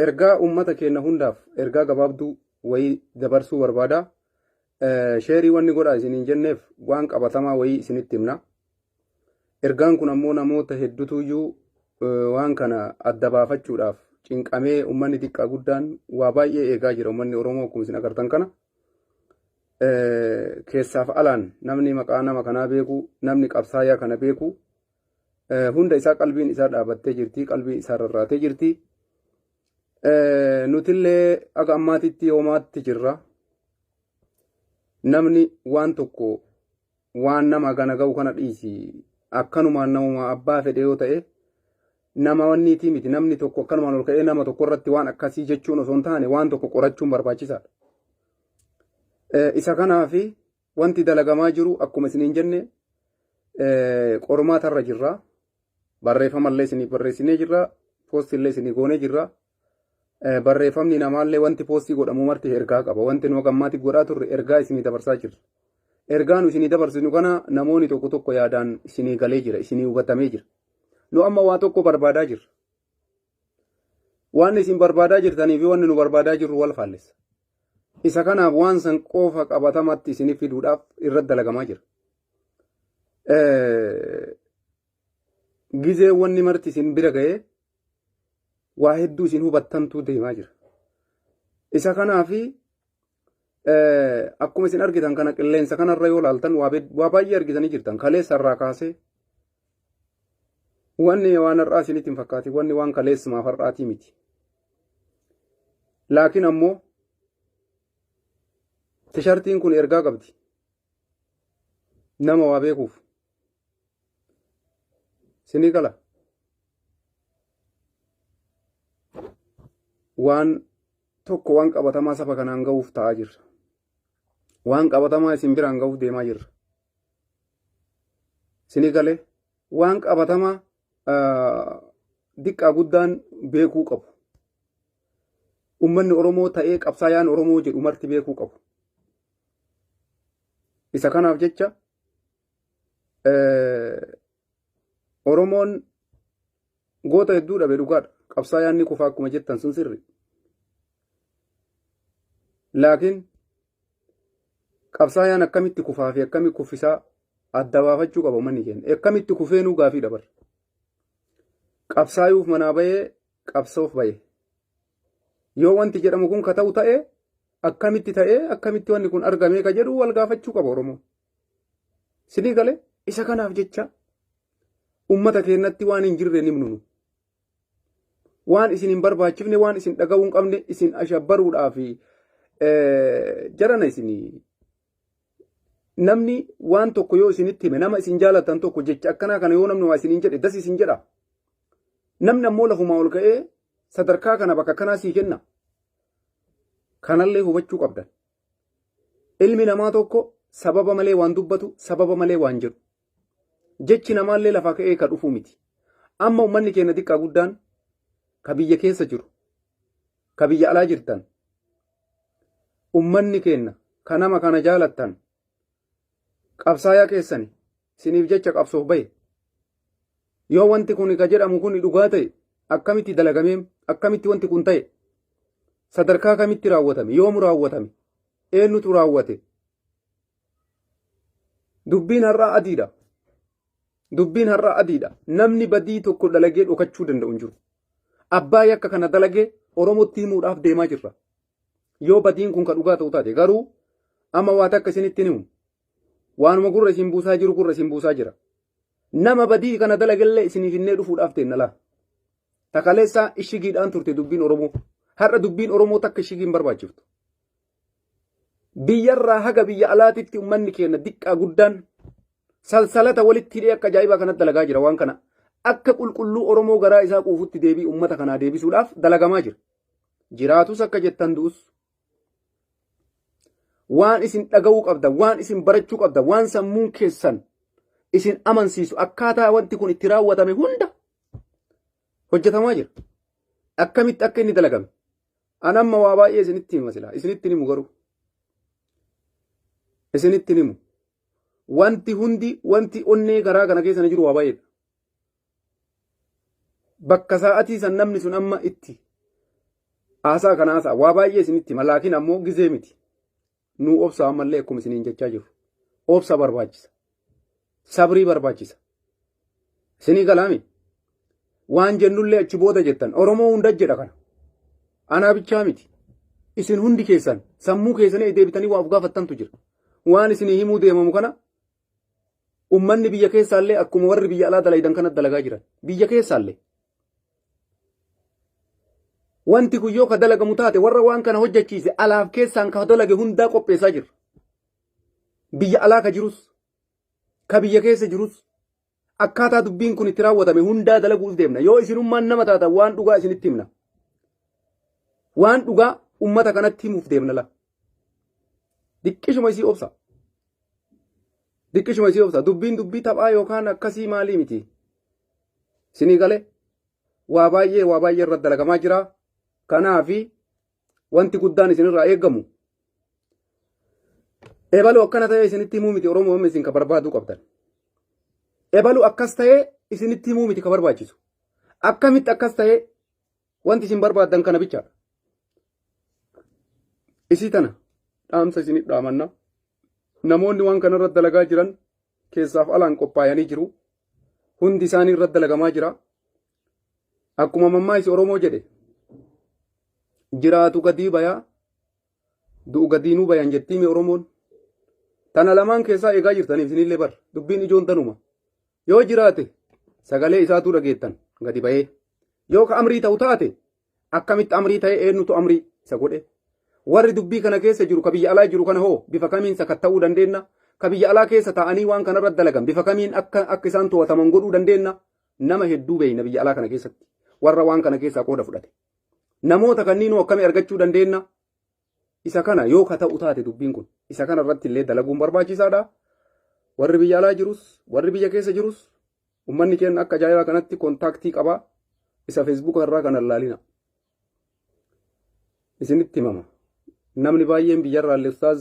Ergaa uummata keenna hundaaf ergaa gabaabduu wayii dabarsuu barbaada. Sheerii wanni godhaa isiniin jenneef waan qabatamaa wayii isinitti himna. Ergaan kun ammoo namoota heddutuyyuu waan kana adda baafachuudhaaf cinqamee uummanni xiqqaa guddaan waa baay'ee eegaa jira uummanni Oromoo akkuma isin agartan kana. Keessaaf alaan namni maqaa nama kanaa beeku namni qabsaayaa kana beeku hunda isaa qalbiin isaa dhaabattee jirti qalbii isaa rarraatee jirti nutillee akka ammaatitti hoomaatti jirra namni waan tokko waan nama gana ga'u kana dhiisi akkanumaan namuma abbaa fedhe yoo ta'e nama wanniitii miti namni tokko akkanumaan ol ka'ee nama tokko irratti waan akkasii jechuun osoo hin taane waan tokko qorachuun barbaachisaadha. Isa kanaafi Wanti dalagamaa jiru akkuma isiniin jenne qormaata irra jirra. Barreeffama illee isiniif barreessinee jirra. Poostii illee isinii goonee jirra. Barreeffamni namaallee wanti poostii godhamu marti ergaa qaba. Wanti nu gammaatti godhaa turre ergaa isinii dabarsaa jirra. Ergaa nu isinii dabarsinu kana namoonni tokko tokko yaadaan isinii galee jira, isinii hubatamee jira. Nu amma waa tokko barbaadaa jirra. Waan isin barbaadaa jirtanii fi wanni nu barbaadaa jirru wal faallessa. Isa kanaaf waan san qofa qabatamatti isiniif fiduudhaaf irratti dalagamaa jira. Gizee wanni marti isin bira ga'ee waa hedduu isin hubattantuu deemaa jira. Isa kanaaf akkuma isin argitan kana qilleensa kanarra yoo laaltan waa baay'ee argitanii jirtan. Kaleessa irraa kaasee Wanni waan har'aa isinitti hin fakkaatin wanni waan kaleessumaaf har'aatii miti. Laakiin ammoo tishartiin kun ergaa qabdi. Nama waa beekuuf. Sinii gala. Waan tokko waan qabatamaa saba kanaan ga'uuf ta'aa jirra. Waan qabatamaa isin biraan ga'uuf deemaa jirra. Sini galee waan qabatamaa diqqaa guddaan beekuu qabu. Uummanni Oromoo ta'ee qabsaayaan Oromoo jedhu marti beekuu qabu. Isa kanaaf jecha Oromoon goota hedduu dhabe dhugaadha. Qabsaayaan ni kufa akkuma jettan sun sirri. Laakiin Qabsaayaan akkamitti kufaa fi akkami kuffisaa adda baafachuu qaba uummanni keenya. Akkamitti kufeenuu gaafii dabarra. Qabsaayuuf manaa bahee qabsoof bahe. Yoo wanti jedhamu kun ka ta'u ta'e akkamitti ta'ee akkamitti wanni kun argamee ka jedhu wal gaafachuu qaba Oromoo. Sinii galee isa kanaaf jecha uummata keenyatti waan hin jirre nimnunu. waan isin hin barbaachifne waan isin dhaga'uu hin qabne isin ashabbaruudhaa fi jarana isin namni waan tokko yoo isinitti hime nama isin jaalatan tokko jecha akkanaa kana yoo namni waa isin hin jedhe das isin jedha namni ammoo lafumaa ol ka'ee sadarkaa kana bakka kanaa sii kenna kanallee hubachuu qabdan ilmi namaa tokko sababa malee waan dubbatu sababa malee waan jedhu Jechi namaallee lafaa ka'ee ka dhufuu miti. Amma ummanni keenya xiqqaa guddaan ka biyya keessa jiru, ka biyya alaa jirtan, ummanni keenya ka nama kana jaalattan, qabsaayaa keessani isiniif jecha qabsoof bahe. Yoo wanti kun ka jedhamu kun dhugaa ta'e akkamitti dalagamee akkamitti wanti kun ta'e sadarkaa kamitti raawwatame yoomu raawwatame eenyutu raawwate Dubbiin har'aa adiidha. Dubbiin har'aa adiidha. Namni badii tokko dalagee dhokachuu danda'u hin jiru. Abbaa yakka kana dalagee Oromootti himuudhaaf deemaa jirra. Yoo badiin kun ka dhugaa ta'u taate garuu amma waata akka isinitti himu. Waanuma gurra isin buusaa jiru gurra isin buusaa jira. Nama badii kana dalagellee isiniif innee dhufuudhaaf teenna laa. Takaleessaa ishigiidhaan turte dubbiin Oromoo. Har'a dubbiin Oromoo takka ishigii hin barbaachiftu. biyyarraa haga biyya alaatitti ummanni keenya diqqaa guddaan salsalata walitti hidhee akka ajaa'ibaa kanatti dalagaa jira waan kana akka qulqulluu Oromoo garaa isaa quufutti deebii ummata kanaa deebisuudhaaf dalagamaa jira. Jiraatus akka jettan du'us waan isin dhaga'uu qabda, waan isin barachuu qabda, waan sammuun keessan isin amansiisu akkaataa wanti kun itti raawwatame hunda hojjetamaa jira. Akkamitti akka inni dalagame, An amma waa baay'ee isinitti hima silaa isinitti himu garuu isinitti himu wanti hundi wanti onnee garaa kana keessa jiru waa baay'eedha. Bakka sa'atii san namni sun amma itti haasaa kana haasaa waa baay'ee isinitti hima laakiin ammoo gizee miti nuu obsa ammallee akkuma isiniin jechaa jirru obsa barbaachisa sabrii barbaachisa isinii galaami waan jennullee achi booda jettan oromoo hunda jedha kana anaa bichaa miti isin hundi keessan sammuu keessanii deebitanii waa of gaafattantu jira waan isinii himuu deemamu kana Ummanni biyya keessaallee akkuma warri biyya alaa dalaydan kanatti dalagaa jiran. Biyya keessaallee. Wanti kun yoo ka dalagamu taate warra waan kana hojjechiise alaaf keessaan ka dalage hundaa qopheessaa jirra. Biyya alaa ka jirus, ka biyya keessa jirus, akkaataa dubbiin kun itti raawwatame hundaa dalaguuf deemna. Yoo isinummaan nama taatan waan dhugaa isinitti himna. Waan dhugaa ummata kanatti himuuf deemna la. Diqqishuma isii obsa. Diqqishuma isii obsa. Dubbiin dubbii taphaa yookaan akkasii maalii miti. Isinii galee waa baay'ee waa baay'ee irratti dalagamaa jira. Kanaafi Wanti guddaan isinirraa eegamu ebaluu akkana ta'ee isinitti himuu miti Oromoo amma isin ka barbaaduu qabdan. Ebaluu akkas ta'ee isinitti himuu miti ka barbaachisu. Akkamitti akkas ta'ee wanti isin barbaaddan kana bichaadha. Isii tana dhaamsa isinif dhaamanna. Namoonni waan kana irratti dalagaa jiran keessaaf alaan qophaa'anii jiru. Hundi isaanii irratti dalagamaa jira. Akkuma mammaaysi Oromoo jedhe jiraatu gadii bayaa du'u gadiinuu bayan jettii mee Oromoon. Tana lamaan keessaa eegaa jirtan isinillee bar dubbiin ijoon tanuma. Yoo jiraate sagalee isaatuu dhageettan gadi bayee. Yoo ka amrii ta'u taate akkamitti amrii ta'e eenyutu amrii isa godhe. Warri dubbii kana keessa jiru ka biyya alaa jiru kana hoo bifa kamiin sakatta'uu dandeenna? Ka biyya alaa keessa taa'anii waan kanarra dalagan bifa kamiin akka akka isaan to'ataman godhuu dandeenna? Nama hedduu beeyna biyya alaa kana keessatti warra waan kana keessaa qooda fudhate. Namoota kanniinuu akkamii argachuu dandeenya? Isa kana yoo ka ta'u taate dubbiin kun isa kana irratti illee dalaguun barbaachisaadha. Warri biyya alaa jirus warri biyya keessa jirus ummanni keenya akka ajaa'ibaa kanatti kontaaktii qaba. Isa feesbuuka irraa kana ilaalina. isinitti himama namni baay'een biyyarraa illee ustaaz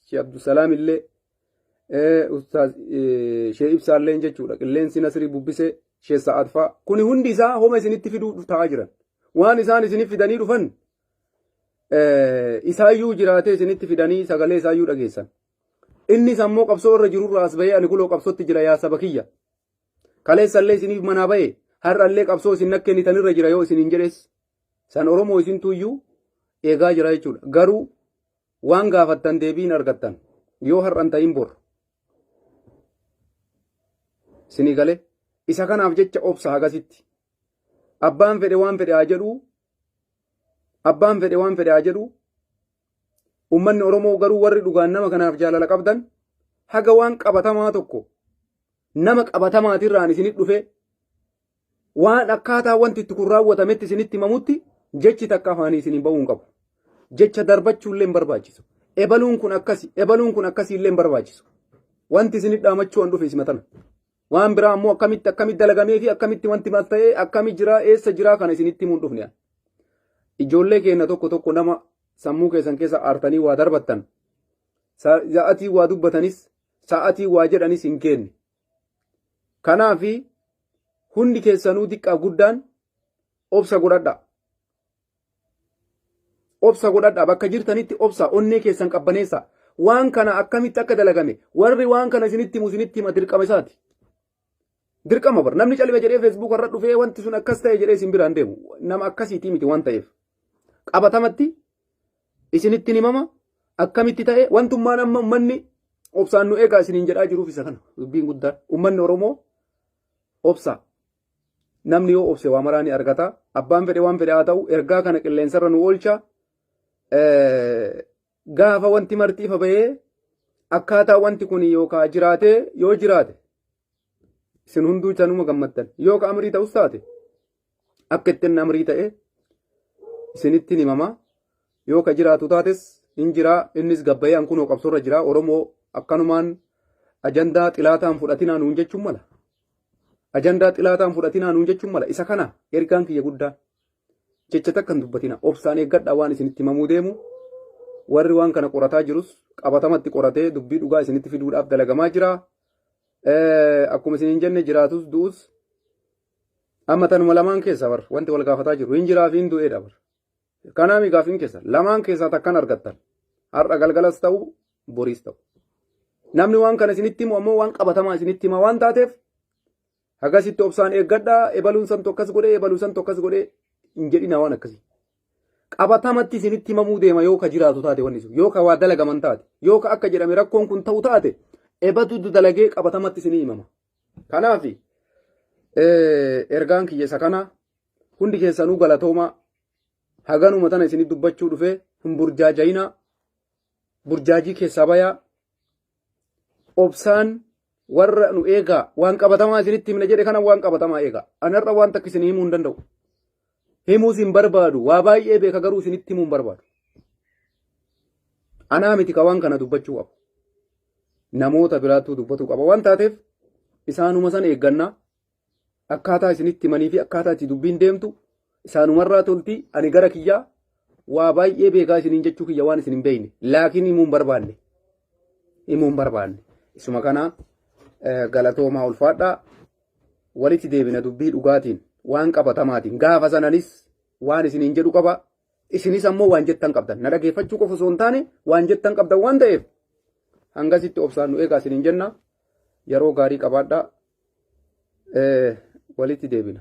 shee abdusalaam illee ustaaz shee ibsaa illee jechuudha qilleensi nasrii bubbisee shee sa'aad fa'a kuni hundi isaa homa isinitti fiduu ta'aa jiran waan isaan isinif fidanii dhufan isaayyuu jiraatee isinitti fidanii sagalee isaayyuu dhageessan innis ammoo qabsoo irra jirurraa as bahee ani kuloo qabsootti jira yaa saba kiyya Kaleessallee isiniif manaa bahe har'allee qabsoo isin na kennitanirra jira yoo isiniin jedhes san Oromoo isintuuyyuu eegaa jira jechuudha. Garuu waan gaafattan deebii hin argattan yoo har'an ta'in bor. Isinii galee isa kanaaf jecha obsa hagasitti. Abbaan fedhe waan fedhe haa jedhuu abbaan fedhe waan fedhe haa jedhuu Uummanni Oromoo garuu warri dhugaan nama kanaaf jaalala qabdan haga waan qabatamaa tokko nama qabatamaatirraan isinit dhufe waan akkaataa wanti itti kun raawwatametti isinitti himamutti jechi takka afaanii isiniin ba'uu hin qabu. Jecha darbachuullee hin barbaachisu. Ebaluun kun akkasi, ebaluun kun akkasiillee hin barbaachisu. Wanti isinit dhaamachuu an dhufe isima tana. Waan biraa ammoo akkamitti akkamitti dalagamee fi akkamitti wanti maal ta'ee akkami jiraa eessa jiraa kana isinitti himuun dhufne. Ijoollee keenya tokko tokko nama sammuu keessan keessa aartanii waa darbattan sa'atii waa dubbatanis sa'atii waa jedhanis hin keenne. Kanaaf hundi keessanuu xiqqaa guddaan obsa godhadha. obsa godhadha bakka jirtanitti obsa onnee keessan qabbaneessa waan kana akkamitti akka dalagame warri waan kana isinitti himu isinitti hima dirqama isaati. Dirqama bar namni calime jedhee feesbuuk irra dhufee wanti sun akkas ta'e jedhee isin biraan deemu nama akkasiitii miti waan ta'eef qabatamatti isinitti himama akkamitti ta'e wantummaan amma ummanni obsaan nu eegaa isiniin jedhaa jiruuf isa kana dubbiin guddaan ummanni Oromoo obsa Namni yoo obse waa maraa ni argata. Abbaan fedhe waan fedhe haa ta'u ergaa kana qilleensarra nu oolcha. Gaafa wanti marti ifa bahee akkaataa wanti kun yookaan jiraatee yoo jiraate isin hunduu chanuma gammaddan yoo ka amrii ta'us taate akka ittiin amrii ta'e isinittiin himama yoo ka jiraatu taates hin jiraa innis gabbayee an kunoo qabsoorra jiraa oromoo akkanumaan ajandaa xilaataan fudhatinaa nuun jechuun mala Ajandaa xilaataan fudhatinaa nuun jechuun mala. Isa kana ergaan kiyya guddaa jecha takka hin dubbatina. Obsaan eeggadhaa waan isinitti himamuu deemu. Warri waan kana qorataa jirus qabatamatti qoratee dubbii dhugaa isinitti fiduudhaaf dalagamaa jira. Akkuma isin hin jenne jiraatus du'us amma tanuma lamaan keessa bar wanti wal gaafataa jiru hin jiraa fi hin du'eedha bar. Kanaa mi gaaffiin keessan lamaan keessaa takkan argattan har'a galgalas ta'u boriis ta'u. Namni waan kana isinitti himu ammoo waan qabatamaa isinitti hima waan taateef akkasitti obsaan eeggadhaa ebaluun san tokkas godhee ebaluu san tokkas godhee hin jedhina waan akkasii. Qabatamatti isinitti himamuu deema yoo ka jiraatu taate wanni sun yoo ka waa dalagaman taate yoo ka akka jedhame rakkoon kun ta'u taate ebatu dalagee qabatamatti isinii himama. Kanaaf ergaan kiyya isa kana hundi keessanuu galatoomaa haganuma tana isinii dubbachuu dhufee hin burjaajayinaa burjaajii keessaa bayaa obsaan warra nu eegaa waan qabatamaa isinitti himna jedhe kana waan qabatamaa eegaa anarra waan takka isinii himuu hin danda'u himuus hin barbaadu waa baay'ee beeka garuu isinitti himuu hin barbaadu anaa miti ka waan kana dubbachuu qabu namoota biraattuu dubbatuu qaba waan taateef isaanuma san eeggannaa akkaataa isinitti himanii fi akkaataa itti dubbiin deemtu isaanumarraa tolti ani gara kiyyaa waa baay'ee beekaa isiniin jechuu kiyya waan isin hin beekne laakiin himuu hin barbaanne himuu hin barbaanne isuma kanaa eh, galatoomaa ulfaadhaa Walitti deebina dubbii dhugaatiin, waan qabatamaatiin. Gaafa san anis waan isiniin jedhu qaba. Isinis ammoo waan jettan qabdan. Na dhageeffachuu qofa osoo hin taane waan jettan qabdan waan ta'eef hangasitti obsaan nu eegaa isiniin jenna. Yeroo gaarii qabaadhaa. Walitti deebina.